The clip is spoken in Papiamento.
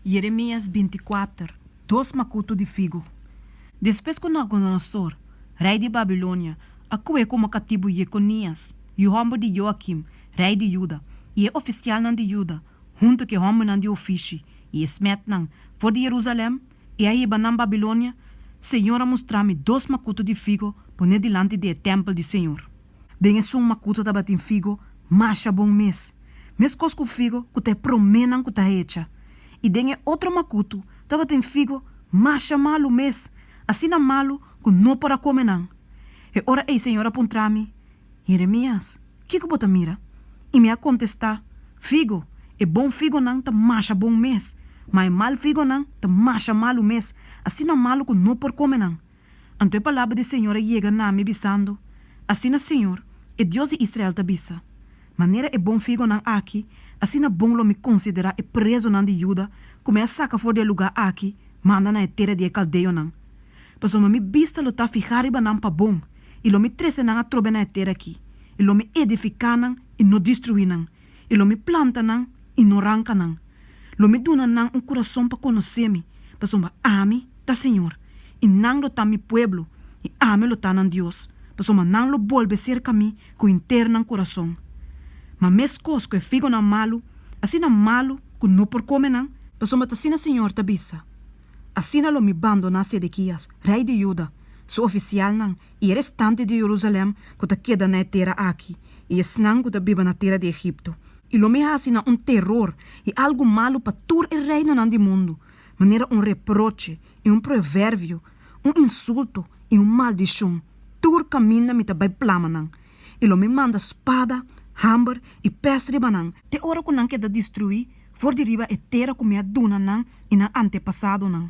Jeremias binti-kuater, Dos makutu di figu Despues ku Nabukodonosor, rei di Babilonia, a kuhé komo katibu Yekonias, yu hòmber di Yoakim, rei di Yuda, i e ofisialnan di Yuda, huntu ku e hòmbernan di ofishi i e smètnan, for di Jerusalèm, i a hiba nan Babilonia, Señor a mustra mi dos makutu di figu poné dilanti di e tèmpel di Señor. Den esun makuto tabatin figo masha bon mes, meskos ku figo ku ta e proménan ku ta hecha, i den e otro makuto tabatin figo masha malu mes, asina malu ku no por a kome nan. E ora ei señor a puntra mi, Jeremias, kiko bo ta mira? I mi a kontestá, Figo, e bon figonan ta masha bon mes, ma e mal figonan ta masha malu mes, asina malu ku no por kome nan. Anto e palabra di Señor a yega na mi bisando, Asina Señor, e Dios di Israel ta bisa, Manera e bon figonan aki, asina bon lo mi considera e prezonan di Judá cu mi a saca for di e lugá aki manda na e tera di e caldeonan. Pasobra mi bista lo ta fihá riba nan pa bon, i lo mi trece nan atrobe na e tera aki, i lo mi edificá nan i no destruí nan, i lo mi planta nan i no ranka nan. Lo mi duna nan un kurason pa konosé mi, pasobra ami ta Señor, i nan lo ta mi pueblo, i ami lo ta nan Dios, pasobra nan lo bolbe serka mi ku henter nan kurason. Ma meskos ku e figonan malu, asina malu ku no por kome nan. Pasobra ta asina Señor ta bisa, Asina lo mi bandoná Sedekías, rei di Juda, su ofisialnan I e restante di Jerusalem ku ta keda na e tera aki, i esnan ku ta biba na tera di Egipto, i lo mi hasi nan un teror i algu malu pa tur e reinonan di mundu, manera un reproche i un proverbio, un insulto i un maldishon, tur kaminda mi ta bai plama nan, i lo mi manda spada, hamber i pes riba nan, te ora ku nan keda destruí for di riba e tera ku mi a duna nan i nan antepasadonan.